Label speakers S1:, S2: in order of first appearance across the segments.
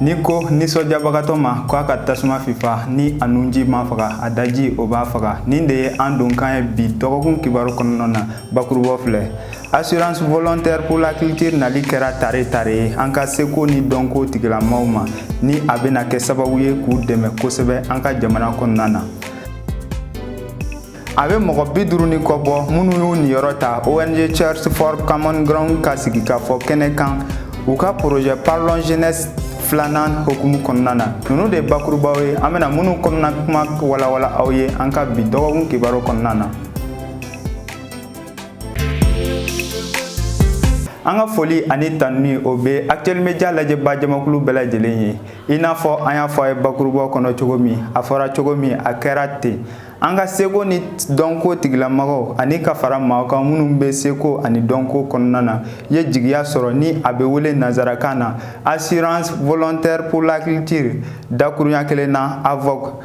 S1: Ni ko nisɔndiyabagatɔ ma ko a ka tasuma fifa ni a nunji m'a faga a daji o b'a faga nin de ye an donkan ye bi dɔgɔkun kibaru kɔnɔna na bakurubaw filɛ assurance volontaire pour la culture nali kɛra tare tare ye an ka seko ni dɔnko tigilamaaw ma ni a bɛna kɛ sababu ye k'u dɛmɛ kosɛbɛ an ka jamana kɔnɔna na a bɛ mɔgɔ bi duuru ni kɔ bɔ minnu y'u niyɔrɔ ta ong search for common ground ka sigikafɔ kɛnɛ kan u ka projet parlons jeunesse filanan hokumu kɔnɔna na ninnu de ye bakurubaw ye an bɛna minnu kɔnɔna kuma walawala aw ye an ka bi dɔgɔkun kibaru kɔnɔna na an ka foli ani tanuni o bɛ actuel media lajɛba jamakulu bɛɛ lajɛlen ye i n'a fɔ an y'a fɔ a ye bakurubaw kɔnɔ cogo min a fɔra cogo min a kɛra ten an ka seko ni dɔnko tigilamɔgɔw ani ka fara maaw kan minnu bɛ seko ani dɔnko kɔnɔna na ye jigiya sɔrɔ ni a bɛ wele nanzarakan na assurance volontaire pour la culture dakurunya kelen na avoc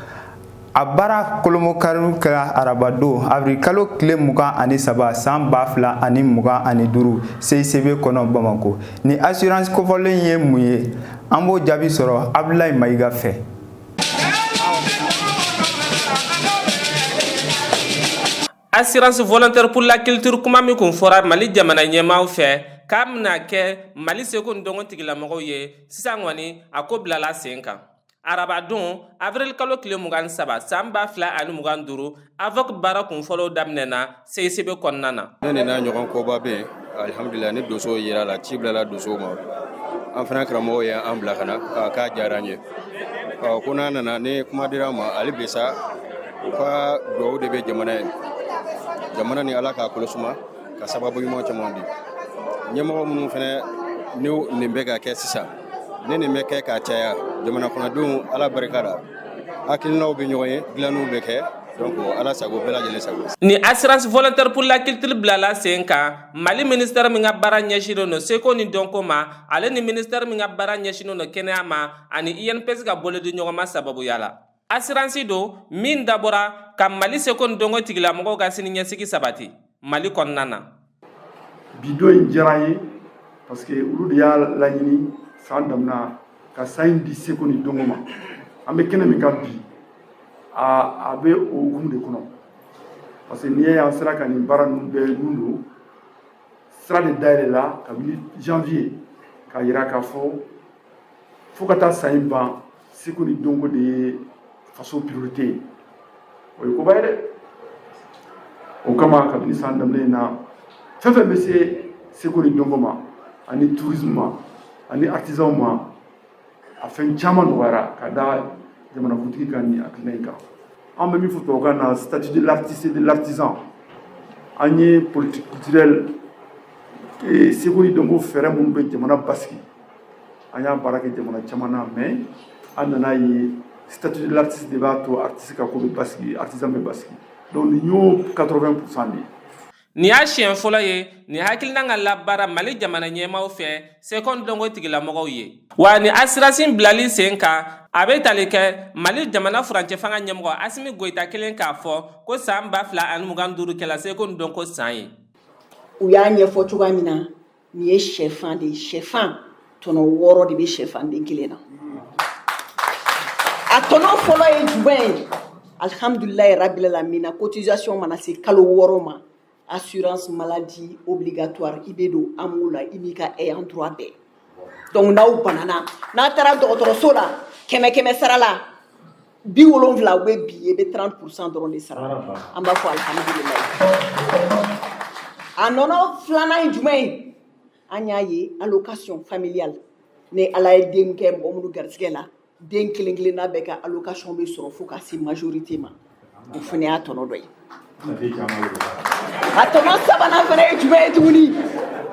S1: a baara kolomokariw kɛra arabadon avril kalo tile mugan ani saba san ba fila ani mugan ani duru cicb kɔnɔ bamako nin assurance kofɔlen ye mun ye an b'o jaabi sɔrɔ abdulayi mayiga fɛ
S2: Assurance volontaire pour la culture kuma min kun fɔra Mali jamana ɲɛmaaw fɛ k'a bɛna kɛ Mali seko ni dɔnko tigilamɔgɔw ye, sisan kɔni a ko bilala sen kan. Arabadon, avril kalo tile mugan ni saba, san ba fila ani mugan ni duuru, AVOC baara kunfɔlɔw daminɛna CICB kɔnɔna na ne nin n'a ɲɔgɔn
S3: koba bɛ yen alihamudulilayi ni donsow jirala ci bilala donsow ma an fana karamɔgɔ ye an bila ka na k'a diyara an ye ko n'an nana ni kuma dira an ma ali bi sa u ka dugaw de bɛ jamana ye jamana ni ala k'a kolo suma ka sababu ɲuman caman di ɲɛmɔgɔ minnu fana ni nin bɛ ka kɛ sisan ni nin bɛ kɛ ka caya jamana kɔnɔdenw ala barika la hakilinaw bɛ ɲɔgɔn ye dilanniw bɛ kɛ donc ala sago bɛɛ lajɛlen sago nin assurance
S2: volontaire pour la culture bilala sen kan mali ministère min ka baara ɲɛsinnen don seko ni dɔnko ma ale ni ministère min ka baara ɲɛsinnen don kɛnɛya ma ani inps ka bolodiɲɔgɔnma sababuya la assurance don min dabɔra ka mali seko ni dɔnko tigilamɔgɔw ka sini ɲɛsigi sabati mali kɔnɔna na bi
S4: don in diyara an ye parce que olu de y'a laɲini san damina ka san in di seko ni dɔnko ma an bɛ kɛnɛ min kan bi a bɛ o hukumu de kɔnɔ parce que n'i ye an sera ka nin baara ninnu bɛɛ nun don sira de dayɛlɛla kabini janvier k'a yira k'a fɔ fo ka taa san in ban seko ni dɔnko de ye faso priorité ye o ye koba ye dɛ o kama kabini san daminɛ na fɛn fɛn bɛ se seko ni dɔnko ma ani tourisme ma ani artisanw ma a fɛn caman nɔgɔyara ka da jamanakuntigi ka nin hakilina in kan an bɛ min fɔ tubabukan na statut de l'artiste et de l'artisan ani politique culturelle seko ni dɔnko fɛɛrɛ minnu bɛ jamana basigi an y'a baara kɛ jamana caman na mais an nan'a ye statut de l'artiste de b'a to artiste ka ko bɛ basigi artisan bɛ basigi donc nin y'o 80 pourcent de ye nin y'a siɲɛ
S2: fɔlɔ ye nin hakilinan ka labaara mali jamana ɲɛmaaw fɛ seko ni dɔnko tigilamɔgɔw ye wa nin asiransi in bilali sen kan a bɛ tali kɛ mali jamana furancɛ fanga ɲɛmɔgɔ asimi goyita kɛlen k'a fɔ ko san ba fila ani mugan duuru kɛla seko ni dɔnko san ye u y'a
S5: ɲɛfɔ cogoya min na nin ye shɛfan de ye shɛfan tɔnɔ wɔɔrɔ de bɛ shɛfan den kelen na a tɔnɔ fɔlɔ ye jumɛn ye alhamdulilayi rabil alamina cotisation mana se kalo wɔɔrɔ ma assurance maladie obligatoire i bɛ don amo la i n'i ka ayant droit bɛɛ donc n'aw banana n'a taara dɔgɔtɔrɔso la kɛmɛ kɛmɛ sara la bi wolonwula o bɛ bin e bɛ 30 pourcent dɔrɔn de sara an b'a fɔ alhamdulilayi a tɔnɔ filanan ye jumɛn ye an y'a ye allocation familiale ni ala ye den kɛ mɔgɔ minnu garisɛgɛ la den kelen kelenna bɛɛ ka allocation bɛ sɔrɔ fo ka se majorité ma o fana y'a tɔnɔ dɔ ye a tɔnɔ sabanan fana ye jumɛn ye tuguni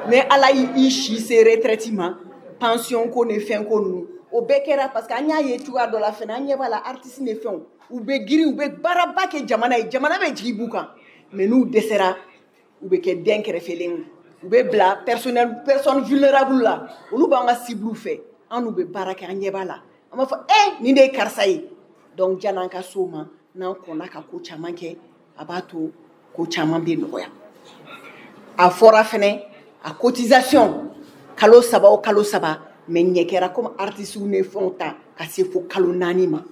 S5: ni ala y'i si se retraite ma pension ko ni fɛn ko ninnu o bɛɛ kɛra parce que an y'a ye cogoya dɔ la fana an ɲɛ b'a la artiste ni fɛnw u bɛ girin u bɛ baaraba kɛ jamana ye jamana bɛ jigi b'u kan mais n'u dɛsɛra u bɛ kɛ dɛnkɛrɛfɛlen ye u bɛ bila personne vulnérable la olu b'an ka cible fɛ an n'u bɛ baara kɛ an ɲɛ b'a la an b'a fɔ e nin de ye karisa ye donc jan'an ka s'o ma n'an kɔnna ka ko caman kɛ a b'a to ko caman bɛ nɔgɔya a fɔra fana a cotisation kalo saba o kalo saba mais ɲɛ kɛra komi artistew ni fɛnw ta ka se fo kalo naani ma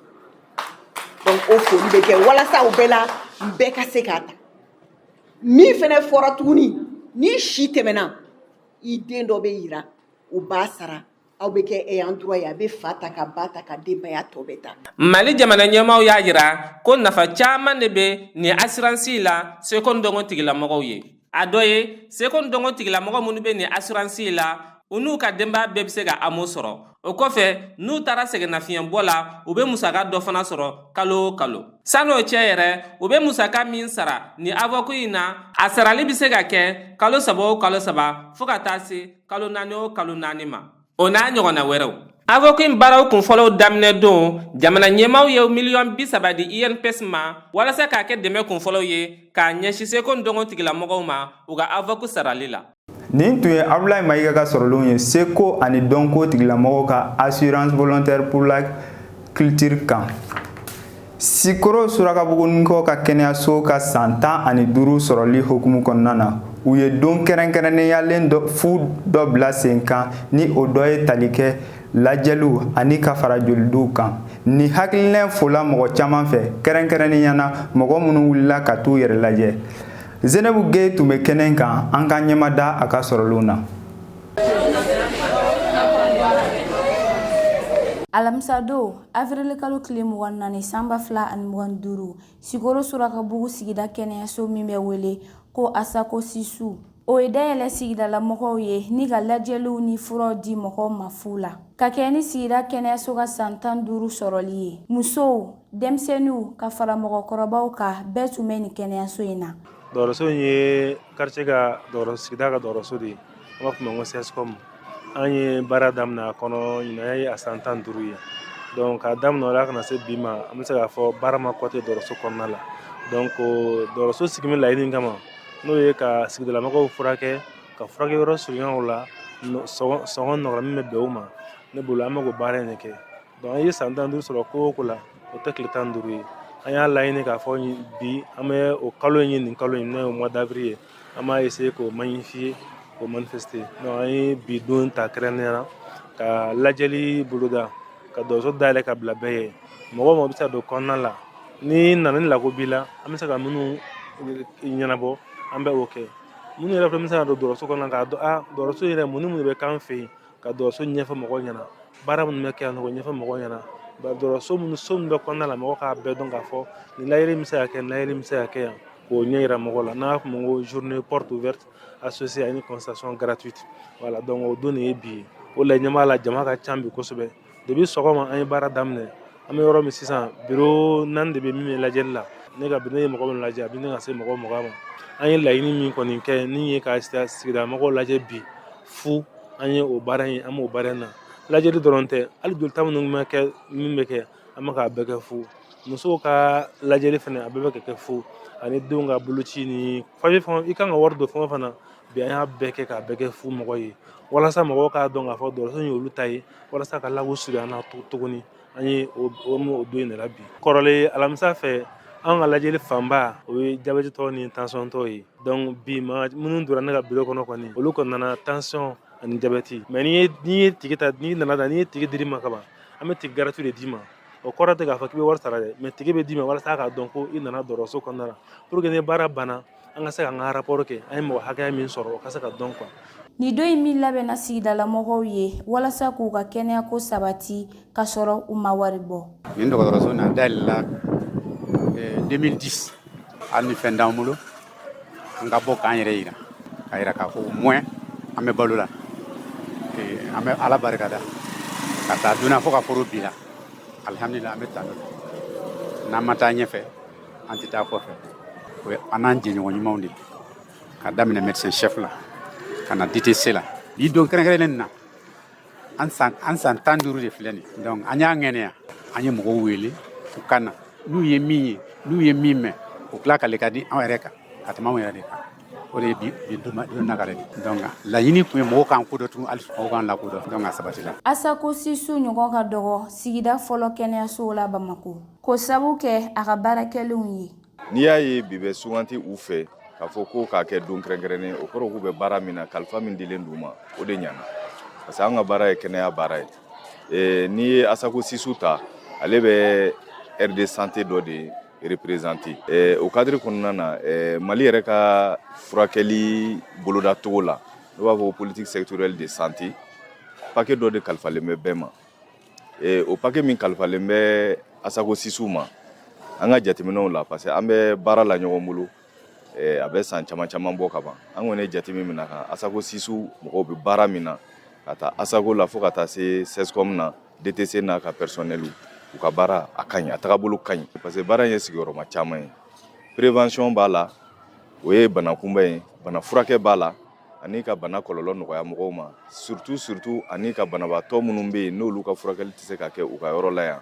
S5: donc o fɔli bɛ kɛ walasa o bɛɛ la bɛɛ ka se k'a ta min fana fɔra tuguni n'i si tɛmɛna i den dɔ bɛ yira u b'a sara Aw bɛ kɛ ayant droit ye a bɛ fa ta ka ba ta ka denbaya tɔ bɛɛ ta mali jamana
S2: ɲɛmaaw y'a yira ko nafa caman de bɛ nin asiransi la seko ni dɔnko tigilamɔgɔw ye a dɔ ye seko ni dɔnko tigilamɔgɔ minnu bɛ nin asiransi la u n'u ka denbaya bɛɛ bɛ se ka amo sɔrɔ o kɔfɛ n'u taara sɛgɛnnafiɲɛbɔ la u bɛ musaka dɔ fana sɔrɔ kalo o kalo sann'o cɛ yɛrɛ u bɛ musaka min sara nin avoc in na a sarali bɛ se ka kɛ kalo saba o kalo saba fo ka taa se kalo naani o kalo naani ma o n'a ɲɔgɔnna wɛrɛw avoku in baaraw kunfɔlɔw daminɛ don jamana ɲɛmaaw ye miliyɔn bi saba di inps e ma walasa k'a kɛ dɛmɛ kunfɔlɔw ye k'a ɲɛsi seko ni dɔnko tigilamɔgɔw ma u ka avoku sarali la nin tun
S1: ye abulayi mayiga ka sɔrɔlenw ye seko ani dɔnko tigilamɔgɔw ka assurance volontaire pour la culture kan sikoro surakabugunikɔ ka kɛnɛyaso ka san tan ani duuru sɔrɔli hukumu kɔnɔna na u ye don kɛrɛnkɛrɛnnenyalen fu dɔ bila sen kan ni o dɔ ye tali kɛ lajɛliw ani ka fara jolidiw kan nin hakilina in fola mɔgɔ caman fɛ kɛrɛnkɛrɛnnenya na mɔgɔ minnu wulila ka t'u yɛrɛ lajɛ zenebu geye tun bɛ kɛnɛ kan an ka ɲɛma da a ka sɔrɔlenw na alamisadon
S6: Afirili kalo tile mugan ni naani san ba fila ani mugan ni duuru sikoro surakabugu sigida kɛnɛyaso min bɛ wele ko asako sisu o ye dayɛlɛ sigidalamɔgɔw ye ni ka lajɛliw ni furaw di mɔgɔw ma fu la ka kɛɲɛ ni sigida kɛnɛyaso ka san tan duuru sɔrɔli ye musow denmisɛnninw ka fara mɔgɔkɔrɔbaw kan bɛɛ tun bɛ ni kɛnɛyaso in
S7: na dɔgɔtɔrɔso in ye quartier ka sigida ka dɔgɔtɔrɔso de ye An b'a fɔ min ma ko CSCOM an ye baara daminɛ a kɔnɔ ɲinan ye a san tan ni duuru ye donc k'a daminɛ o la ka na se bi ma an bɛ se k'a fɔ baara ma kɔtigɛ dɔgɔtɔrɔso kɔnɔna la donc dɔgɔtɔrɔso sigi min laɲini kama n'o ye ka sigidalamɔgɔw furakɛ ka furakɛ yɔrɔ surunya u la sɔngɔ nɔgɔ la min bɛ bɛn u ma ne bolo an bɛ k'o baara in de kɛ donc an ye san tan duuru sɔrɔ ko o ko la o tɛ tile tan duuru ye an y'a laɲini k'a fɔ bi an bɛ o kalo in ye nin kalo in n'o ye mois d'avril ye an b'a essayer k'o magnifier k'o manifester donc an ye bi don ta kɛrɛnkɛrɛnnenya la ka lajɛli boloda ka dɔgɔtɔrɔso dayɛlɛ ka bila bɛɛ ye mɔgɔ o mɔgɔ bɛ se ka don kɔnɔna la n'i nana ni lako b'i la an bɛ se ka minnu ɲɛnabɔ an bɛ o kɛ minnu yɛrɛ fana bɛ se ka don dɔgɔtɔrɔso kɔnɔna k'a dɔn a dɔgɔtɔrɔso yɛrɛ mun ni mun de bɛ k'an fɛ yen ka dɔgɔtɔrɔso ɲɛfɔ mɔgɔw ɲɛna baara minnu bɛ kɛ yan nɔ k'o ɲɛfɔ mɔgɔw ɲɛna dɔgɔtɔrɔso minnu so min bɛ kɔnɔna la mɔgɔw k'a bɛɛ dɔn k'a fɔ nin lajɛli bɛ se ka kɛ nin lajɛli bɛ se ka kɛ yan k'o ɲɛ yira mɔgɔw la n'an b'a fɔ o ma ko journée porte ouverte associée à une consultation gratuite voilà donc o don de ye bi ye o de la i ɲɛ b'a la jama ka ca bi kosɛbɛ Depuis sɔgɔma an ye baara daminɛ an bɛ yɔrɔ min sisan bureau naani de bɛ min bɛ lajɛli la ne ka ne ye mɔgɔ min lajɛ a bɛ ɲini ka se mɔgɔ mugan ma an ye laɲini min kɔni kɛ n'o ye ka sigida mɔgɔw lajɛ bi fu an ye o baara in an b'o baara in na lajɛli dɔrɔn tɛ hali jolita minnu bɛ kɛ min bɛ kɛ an bɛ k'a bɛɛ kɛ fu musow ka lajɛli fana a bɛɛ bɛ ka kɛ fu ani denw ka boloci ni fɛn i kan ka wari don fɛn o fɛn na bi an y'a bɛɛ kɛ k'a bɛɛ kɛ fu mɔgɔw ye walasa mɔgɔw k'a dɔn k'a fɔ dɔgɔtɔrɔso ye olu ta ye walasa ka labo surunya an na tu- tuguni an ye o o m'o o don in de la bi kɔrɔlen alamisa fɛ an ka lajɛli fanba o ye jabɛtitɔ ni tensiontɔ ye donc bi maa minnu donna ne ka biro kɔnɔ kɔni olu kɔni nana tension ani jabɛti mais n'i ye n'i ye ticket ta n'i nana ta n'i ye ticket dir'i ma kaban an bɛ ticket gratuit de d'i ma o kɔrɔ tɛ k'a fɔ k'i bɛ wari sara dɛ mais ticket bɛ d'i ma walasa k'a dɔn ko i nana dɔgɔtɔrɔso kɔnɔna na pour que ni baara banna an ka se ka an ka rapport kɛ an ye mɔgɔ hakɛya min sɔrɔ o ka se ka dɔn quoi Nin don in
S6: min labɛnna sigidalamɔgɔw ye walasa k'u ka kɛnɛyako sabati ka sɔrɔ u ma wari bɔ. Nin dɔgɔtɔrɔso in a
S8: dayɛlɛla 2010 hali ni fɛn t'an bolo an ka bɔ k'an yɛrɛ yira k'a yira k'a fɔ au moins an bɛ balo la an bɛ Ala barika da k'a ta o don na fo ka foro bi la alihamudulila an bɛ tan n'an ma taa ɲɛfɛ an tɛ taa kɔfɛ o ye an n'an jɛɲɔgɔn ɲumanw de k'a daminɛ médecin chef la ka na DTC la bi don kɛrɛnkɛrɛnnen na an san an san tan duuru de filɛ nin donc an y'a ŋɛnɛya an ye mɔgɔw wele u ka na n'u ye min ye n'u ye min mɛn u ka lakali ka di anw yɛrɛ kan ka tɛmɛ anw yɛrɛ de kan o de ye bi bi duma- don nakare de donc laɲini tun ye mɔgɔw k'an kodɔn tun hali mɔgɔw k'an lakodɔn donc a sabatila asako sisu ɲɔgɔn
S6: ka dɔgɔ sigida fɔlɔ kɛnɛyasow la bamako k'o sabu kɛ a ka baara kɛlenw ye n'i y'a ye bi
S9: bɛ sugandi u fɛ k'a fɔ ko k'a kɛ don kɛrɛnkɛrɛnnen o kɔrɔ k'u bɛ baara min na kalifa min dilen d'u ma o de ɲana parce que an ka baara ye kɛnɛya baara ye Eh, n'i ye asako sisu ta ale bɛ aire de santé dɔ de représenter o cadre kɔnɔna na mali yɛrɛ ka furakɛli bolodacogo la n'an b'a fɔ ko politique sectorielle de santé paquet dɔ de kalifalen bɛ bɛɛ ma o paquet min kalifalen bɛ asako sisu ma an ka jateminɛw la parce que an bɛ baara la ɲɔgɔn bolo a bɛ san caman caman bɔ ka ban an kɔni ye jate min min'a kan asako sisu mɔgɔw bɛ baara min na k'a ta asako la fo ka taa se CSCom na DTC n'a ka personnel u ka baara a ka ɲi a tagabolo ka ɲi parce que baara in ye sigiyɔrɔma caman ye prévention b'a la o ye bana kunbɛn ye bana furakɛ b'a la ani ka bana kɔlɔlɔ nɔgɔya mɔgɔw ma surtout surtout ani ka banabaatɔ minnu bɛ yen n'olu ka furakɛli tɛ se ka kɛ u ka yɔrɔ la yan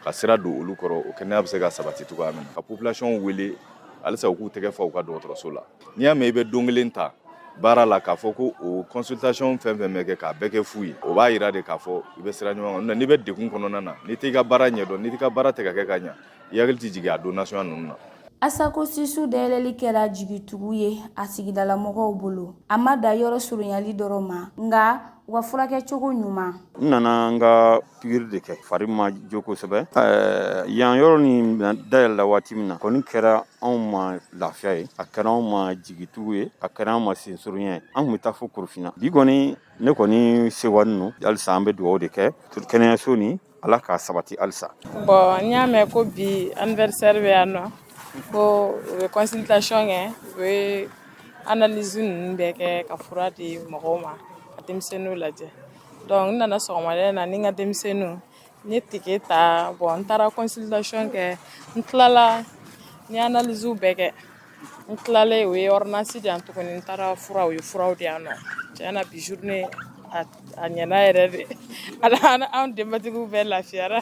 S9: ka sira don olu kɔrɔ o kɛnɛya bɛ se ka sabati cogoya min na ka population wele halisa u k'u tɛgɛ fa u ka dɔgɔtɔrɔso la n'i y'a mɛn i bɛ don kelen ta baara la k'a fɔ ko o consultation fɛn fɛn bɛ kɛ k'a bɛɛ kɛ fu ye o b'a yira de k'a fɔ i bɛ sira ɲuman kan n'i bɛ degun kɔnɔna na n'i t'i ka baara ɲɛdɔn n'i t'i ka baara tɛ ka kɛ ka ɲa i hakili tɛ jigin a don nasuguya ninnu na Asako
S6: Sisu dayɛlɛli kɛra jigitugu ye a sigidalamɔgɔw bolo. A ma da yɔrɔ surunyali dɔrɔn ma, nka wa furakɛ cogo ɲuman n nana n
S10: ka pikiri de kɛ fari ma jo kosɛbɛ ɛɛ yan yɔrɔ nin dayɛlɛla waati min na kɔni kɛra anw ma lafiya ye a kɛra anw ma jigitugu ye a kɛra anw ma sensurunya ye an kun bɛ taa fo korofina bi kɔni ne kɔni sewanin no halisa an bɛ dugaw de kɛ kɛnɛyaso ni Ala k'a sabati halisa bɔn n y'a
S11: mɛn ko bi anniversaire bɛ yan nɔ ko u bɛ consultation kɛ u bɛ analyse ninnu bɛɛ kɛ ka fura di mɔgɔw ma ka denmisɛnninw lajɛ dɔnku n nana sɔgɔmada na ni n ka denmisɛnninw n ye ticket ta bɔn n taara consultation kɛ n tilala n ye analyse bɛɛ kɛ n tilalen u ye ordonnance di yan tuguni n taara fura u ye furaw di yan nɔ tiɲɛ na bi journée a ɲɛna yɛrɛ de anw denbatigiw bɛɛ lafiyara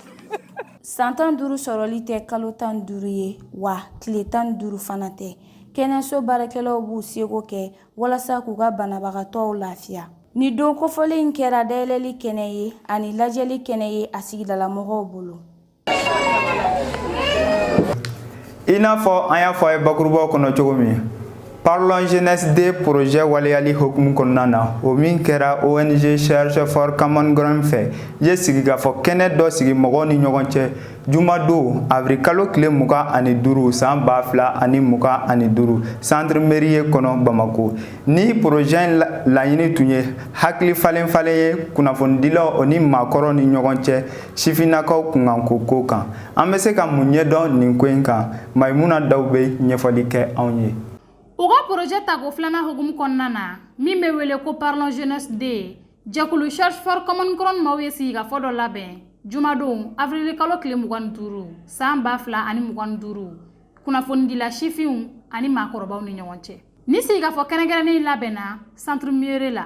S11: san
S6: tan duuru sɔrɔli tɛ kalo tan duuru ye wa tile tan duuru fana tɛ kɛnɛyaso baarakɛlaw b'u seko kɛ walasa k'u ka banabagatɔw lafiya ni don kofɔlen kɛra dayɛlɛli kɛnɛ ye ani lajɛli kɛnɛ ye a sigidalamɔgɔw bolo
S1: i n'a fɔ an y'a fɔ a ye bakurubaw kɔnɔ cogo min parlons jeunesse deux projet waleyali hokumu kɔnɔna na o min kɛra ong search for common ground fɛ ye sigikafɔ kɛnɛ dɔ sigi mɔgɔw ni ɲɔgɔn cɛ jumadon avril kalo tile mugan ani duuru san ba fila ani mugan ani duuru centre mérieux kɔnɔ bamako ni projet in laɲini tun ye hakili falenfalen ye kunnafonidilaw o ni maakɔrɔw ni ɲɔgɔn cɛ sifinnakaw kunkanko ko kan an bɛ se ka mun ɲɛdɔn nin ko in kan mayimuna daw bɛ ɲɛfɔli kɛ anw ye u ka projet
S12: tako filanan hukumu kɔnɔna na min bɛ wele ko parlons jeunesse deux jɛkulu search for common ground maaw ye sigikafɔ dɔ labɛn jumadon avril kalo tile mugan ni duuru san ba fila ani mugan ni duuru kunnafonidila sifinw ani maakɔrɔbaw ni ɲɔgɔn cɛ ni sigikafɔ kɛrɛnkɛrɛnnen labɛnna centre mérieux la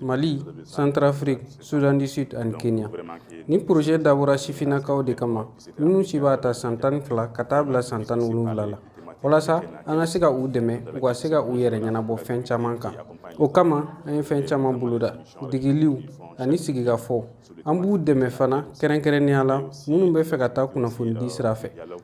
S13: Mali, Centrafrique, Soudan du Sud ani Kenya. Ni projet dabɔra sifinnakaw de kama, minnu si b'a ta san tan ni fila ka taa bila san tan ni wolonwula la. Walasa an ka se ka u dɛmɛ, u ka se ka u yɛrɛ ɲɛnabɔ fɛn caman kan. O kama, an ye fɛn caman boloda, degeliw ani sigikafɔw. An b'u dɛmɛ fana kɛrɛnkɛrɛnnenya la minnu bɛ fɛ ka taa kunnafonidi sira fɛ.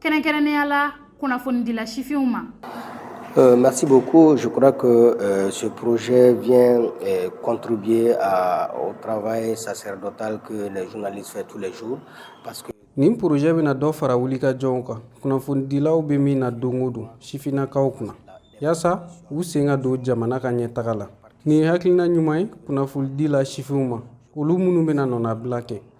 S12: kɛrɛnkɛrɛnnenya la kunnafonidila sifinw ma Euh,
S14: merci beaucoup. Je crois que euh, ce projet vient euh, contribuer à, au travail sacerdotal que les journalistes font tous les jours. Parce que nin projet bɛna
S13: dɔ fara wulikajɔw kan kunnafonidilaw bɛ min na don o don sifinnakaw kunna yaasa u sen ka don jamana ka ɲɛtaga la nin ye hakilina ɲuman ye kunnafonidila sifinw ma olu minnu bɛna nɔnabila kɛ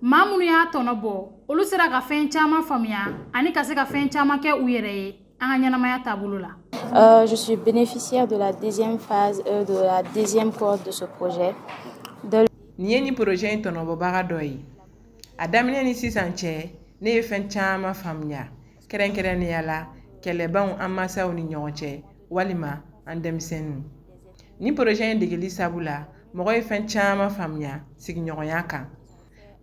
S12: maa minnu y'a tɔnɔ bɔ olu sera ka fɛn caman faamuya ani ka se ka fɛn caman kɛ u yɛrɛ ye an ka ɲɛnamaya taabolo la Euh, je suis
S15: bénéficiaire de la deuxième phase, euh, de la deuxième cohorte de ce projet. De...
S16: Nin ye nin projet in tɔnɔbɔbaga dɔ ye a daminɛ ni sisan cɛ ne ye fɛn caman faamuya kɛrɛnkɛrɛnnenya la kɛlɛbanw an masaw ni ɲɔgɔn cɛ walima an denmisɛnninw ni poroze in degeli sabu la mɔgɔ ye fɛn caman faamuya sigiɲɔgɔnya kan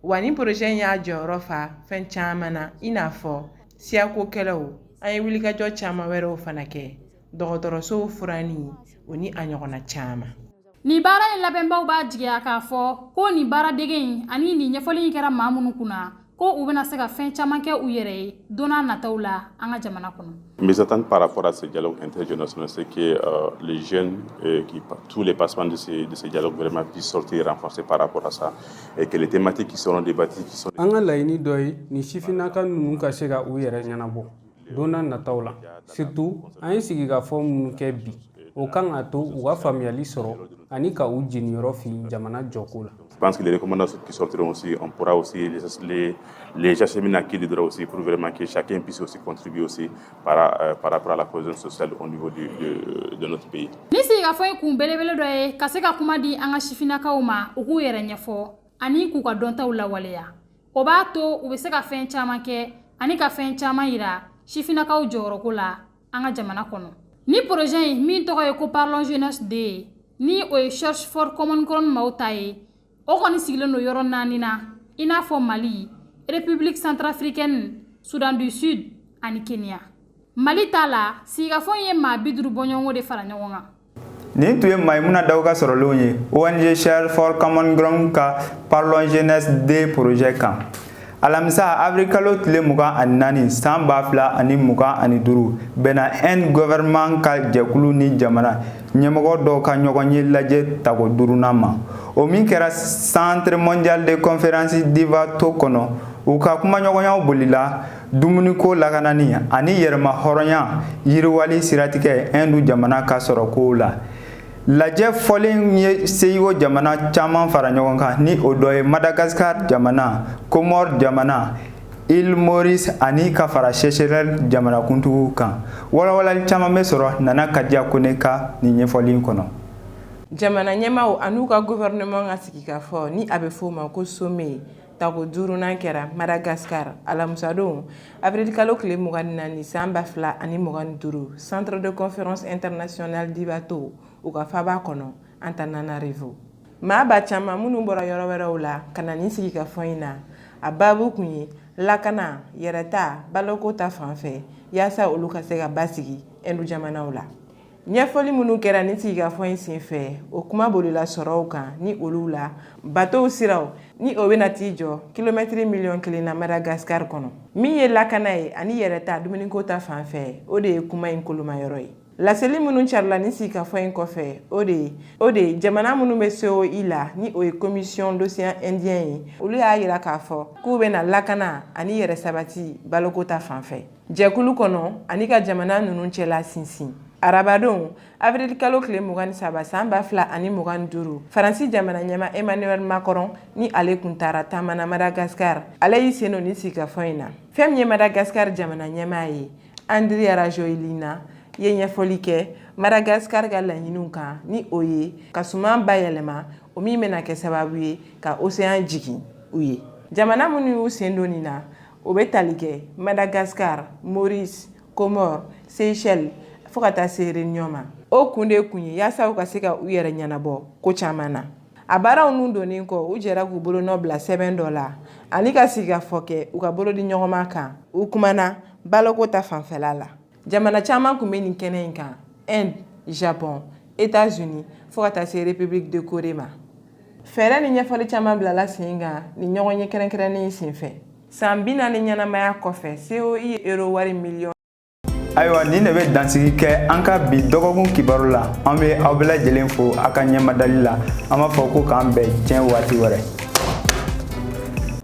S16: wa ni poroze in y'a jɔyɔrɔ fa fɛn caman na i n'a fɔ siyakokɛlɛw an ye wulikajɔ caman wɛrɛw fana kɛ dɔgɔtɔrɔsow furanni o ni a ɲɔgɔnna caman Nin baara
S12: in labɛnbaw b'a jigiya k'a fɔ ko nin baara dege in ani nin ɲɛfɔli in kɛra maa minnu kunna ko u bɛna se ka fɛn caman kɛ u yɛrɛ ye donna nataw la an ka jamana kɔnɔ Mes attentes par rapport
S17: à ce dialogue intergénérationnel, c'est que euh, les jeunes euh, que tous les participants de ce de ce dialogue vraiment puissent sortir renforcés par rapport à ça et que les thématiques qui seront débattues qui sont an ka laɲini dɔ ye
S13: nin sifinnaka ninnu ka se ka u yɛrɛ ɲɛnabɔ donna nataw la surtout an ye sigikafɔ minnu kɛ bi o kan ka to u ka faamuyali sɔrɔ ani ka u jeniyɔrɔ fin jamana jɔko la Je pense que les recommandations
S17: qui sortiront aussi, on pourra aussi les, les, les acheminer à qui de droit aussi pour vraiment que chacun puisse aussi contribuer aussi par, euh, par rapport à la cohésion sociale au niveau du, de, de notre pays. Nin sigikafɔ in kun
S12: belebele dɔ ye ka se ka kuma di an ka sifinnakaw ma u k'u yɛrɛ ɲɛfɔ ani k'u ka dɔntaw lawaleya o b'a to u bɛ se ka fɛn caman kɛ ani ka fɛn caman yira sifinnakaw jɔyɔrɔko la an ka jamana kɔnɔ ni porozɛ in min tɔgɔ ye ko parlons jeunesse deux ye ni o ye search for common ground maaw ta ye o kɔni sigilen don yɔrɔ naani na i n'a fɔ mali république centrafricaine soudan du sud ani kenya mali ta la sigikafɔ in ye maa bi duuru bɔɲɔgɔnko de fara ɲɔgɔn kan nin tun
S1: ye mayimuna dawu ka sɔrɔlenw ye ong search for common ground ka parlons jeunesse deux projet kan alamisa avril kalo tile mugan ani naani san ba fila ani mugan ani duuru bɛnna inde gɔvɛrɛnman ka jɛkulu ni jamana ɲɛmɔgɔ dɔw ka ɲɔgɔn ye lajɛ tako duurunan ma o min kɛra centre mondial de conférence d'ivato kɔnɔ u ka kumaɲɔgɔnyaw bolila dumuniko lakanani ani yɛrɛmahɔrɔnya yiriwali siratigɛ hindu jamana ka sɔrɔkow la lajɛ fɔlen ye seyigo jamana caman fara ɲɔgɔn kan ni o dɔ ye madagascar jamana comores jamana île maurice ani ka fara seychelles jamanakuntigiw kan walawalali caman bɛ sɔrɔ nana kadiya kone ka nin ɲɛfɔli kɔnɔ jamana
S16: ɲɛmaaw an'u ka gouvernement ka sigikafɔ ni a bɛ fɔ o ma ko sommet Tako duurunan kɛra madagascar alamusadon avril kalo tile mugan ni naani san ba fila ani mugan ni duuru centre de conférence internationale d'ivato u ka faba kɔnɔ antananarivo maaba caman minnu bɔra yɔrɔ wɛrɛw la ka na nin sigikafɔ in na a baabu kun ye lakana yɛrɛta baloko ta fanfɛ yaasa olu ka se ka basigi ɛndu jamanaw la ɲɛfɔli minnu kɛra nin sigikafɔ in senfɛ o kuma bolila sɔrɔw kan ni olu la batow siraw ni o bɛna t'i jɔ kilomɛtiri miliyɔn kelen na madagascar kɔnɔ min ye lakana ye ani yɛrɛta dumuniko ta fan fɛ o de ye kuma in kolomayɔrɔ ye laseli minnu carila nin sigikafɔ in kɔfɛ o de ye o de ye jamana minnu bɛ coi la ni o ye commission d'océan indien ye olu y'a yira k'a fɔ k'u bɛna lakana ani yɛrɛ sabati baloko ta fan fɛ jɛkulu kɔnɔ ani ka jamana ninnu cɛla sinsin arabadon avril kalo tile mugan ni saba san ba fila ani mugan ni duuru faransi jamana ɲɛmaa emmanuel macron ni ale kun taara taama na madagascar ale y'i sen don nin sigikafɔ in na fɛn min ye madagascar jamana ɲɛmaa ye andry rajoelina ye ɲɛfɔli kɛ madagascar ka laɲiniw kan ni o ye ka suman bayɛlɛma o min bɛna kɛ sababu ye ka océan jigin u ye jamana minnu y'u sen don nin na o bɛ tali kɛ madagascar maurice comores seychelles fo ka taa se réunion ma o kun de kun ye yaasa u ka se ka u yɛrɛ ɲɛnabɔ ko caman na a baaraw ninnu donnen kɔ u jɛra k'u bolonɔ bila sɛbɛn dɔ la ani ka sigikafɔ kɛ u ka bolodiɲɔgɔnma kan u kumana baloko ta fanfɛla la jamana caman kun bɛ nin kɛnɛ in kan inde japon états-unis fo ka taa se république de corée ma fɛɛrɛ ni ɲɛfɔli caman bilala sen kan nin ɲɔgɔnye kɛrɛnkɛrɛnnen senfɛ san bi naani ɲɛnamaya kɔfɛ coi ye euro wari miliyɔn
S1: ayiwa nin de bɛ dansigi kɛ an ka bi dɔgɔkun kibaru la an bɛ aw bɛɛ lajɛlen fo a ka ɲɛmadali la an b'a fɔ ko k'an bɛn siɲɛ waati wɛrɛ